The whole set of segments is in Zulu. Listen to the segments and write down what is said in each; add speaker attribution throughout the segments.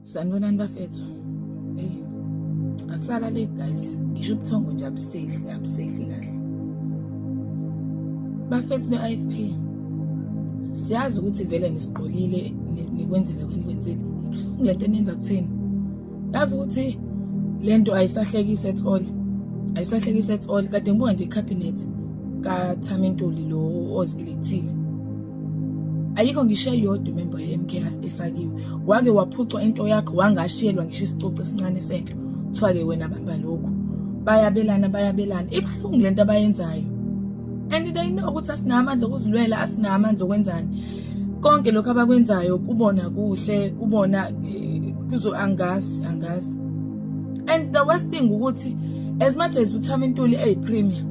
Speaker 1: sanibonani bafethu eyi akusala le guys ngisho ubuthongo nje abusehli abusehli kahle bafethu be-ifp siyazi ukuthi vele nisiqolile nikwenzile kwenikwenzile ibuhlungu le nto enenza kutheni yazi ukuthi le nto ayisahlekisi at all ayisahlekisi at all kade ngibuka nje ikhabhinethi kathami ntuli lo ozielethile ayikho ngisho eyodwa imembo ye-mk efakiwe wake waphucwa into yakho wangashiyelwa ngisho isicoci esincane sento kuthiwa-ke wena bamba lokhu bayabelana bayabelana ibuhlungu le nto abayenzayo and they know ukuthi asinawo amandla okuzilwela asinawo amandla okwenzani konke lokhu abakwenzayo kubona kuhle kubona eh, kuzo angazi angazi and the worst thing ukuthi as much as uthama intuli eyi-premier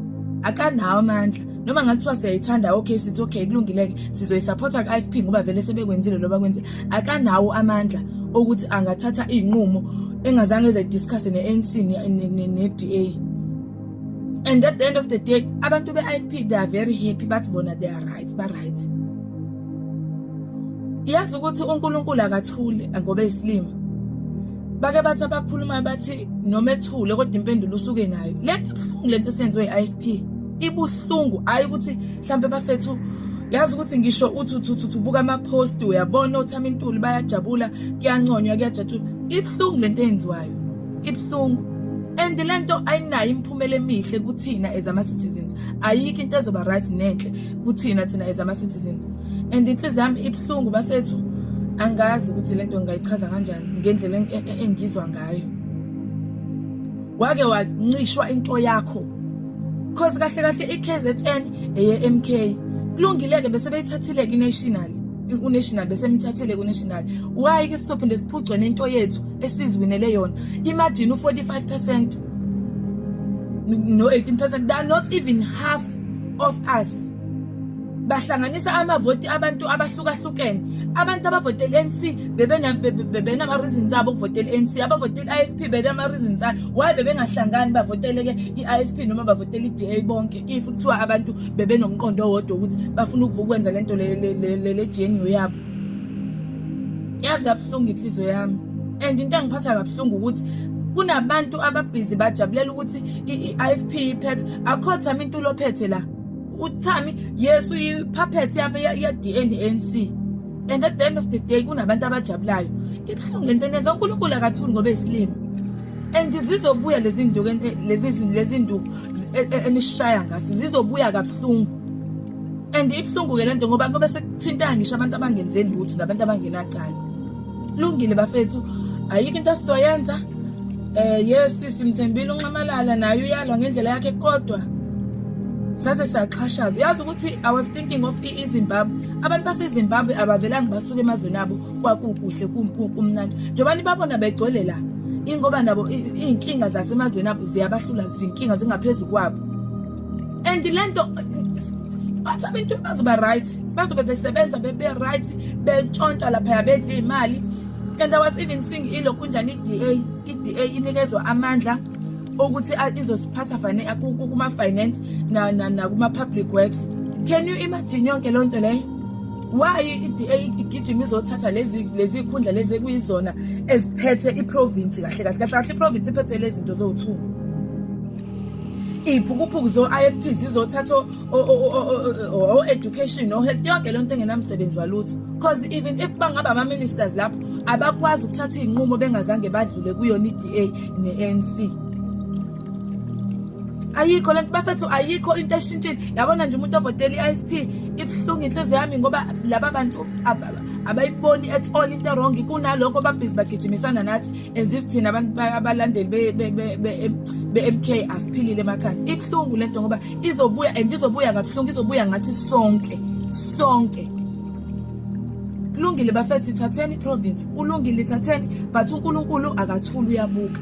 Speaker 1: akanawo amandla noma ngathiwa siyayithanda okay sithi okay kulungileke sizoyisupporta ku-ifp ngoba vele sebekwenzile loba kwenze akanawo amandla okuthi angathatha iy'nqumo engazange ezayidiscusse ne-anc ne-da and at the end of the day abantu be-ifp they are very happy bathi bona they are right ba-right yazi ukuthi unkulunkulu akathuli ngoba eyisilima bake bathi abakhulumayo bathi noma ethule kodwa impendulo usuke nayo lento ebuhlungu lento esenziwe i-ifp ibuhlungu hayi ukuthi mhlampe bafethu yazi ukuthi ngisho uthi uthuthuthi ubuka ama-post uyabona othama intuli bayajabula kuyanconywa kuyajatshula ibuhlungu le nto eyenziwayo ibuhlungu and le nto ayinayo imiphumela emihle kuthina as ama-citizens ayikho into ezoba right nenhle kuthina thina as ama-citizens and inhliziyo yami ibuhlungu bafethu angazi ukuthi le nto ngingayichaza kanjani ngendlela e-, e-, engizwa ngayo wake wancishwa into yakho cause kahle kahle i-kzn eye-mk kulungile-ke bese beyithathile kinational unational bese emthathile kunational why ke sizophinde siphucwe nento yethu esiziwinele yona imagine u-45 percent no-18 percent they are not even half of us bahlanganisa amavoti abantu abahlukahlukene abantu abavotela i-anc bebenama-reasons abo ukuvotela i-anc abavotela i-ifp benama-reasons ayo why bebengahlangani bavoteleke i-ifp noma bavotela i-da bonke if kuthiwa abantu bebenomqondo owodwa ukuthi bafuna ukwenza le nto lejeniyo yabo yazi yabuhlungu inhliziyo yami and into engiphatha kabuhlungu ukuthi kunabantu ababhizi bajabulela ukuthi i-ifp iphethe akhothama into ulophethe la uthami yes uyi-puppet ye-dnc and at the end of the day kunabantu abajabulayo ibuhlungu lento enenza unkulunkulu akathuni ngoba esilima and zizobuya lezi nduku lezi nduku e, e, enishaya ngaso zizobuya kabuhlungu and ibuhlungu-ke le nto ngoba kube sekuthintana ngisho abantu abangenzeli lutho nabantu abangenacala Lungile bafethu ayikho into sizoyenza eh yes simthembile unxamalala naye uyalwa ngendlela yakhe kodwa saze saxhashaza uyazi ukuthi i was thinking of izimbabwe abantu basezimbabwe abavelanga basuke emazweni abo kwakukuhle kumnandi njengoba nibabona begcwele la ingoba nabo iy'nkinga zasemazweni abo ziyabahlula zinkinga zingaphezu kwabo and lento bathi abantu bazoba right bazobe besebenza bebe right bentshontsha lapha bedla imali and i was even seeing ilokhu njani iDA iDA inikezwa amandla ukuthi izosiphatha fane kuma finance na na kuma public works can you imagine yonke lonto leyo why iDA igijima izothatha lezi lezi ikhundla lezi kuyizona eziphethe iprovince kahle kahle kahle iprovince iphethe lezi zinto zowu2 iy'phukuphuku zo-ifp zizothatha o-education no-health yonke leyo nto engenamsebenzi walutho because even if bangaba ama-ministers lapho abakwazi ukuthatha iy'nqumo bengazange badlule kuyona i-d a ne-n c ayikho lento bafethu ayikho into eshintshile yabona nje umuntu ovotela i-ifp ibuhlungu inhliziyo yami ngoba laba bantu abayiboni at all into erong kunalokho babhizi bagijimisana nathi as if thina abantu abalandeli be-mk asiphilile emakhanda ibuhlungu le nto ngoba izobuya and izobuya kabuhlungu izobuya ngathi sonke sonke kulungile bafethi thatheni iprovince kulungile thatheni but unkulunkulu akathuli uyabuka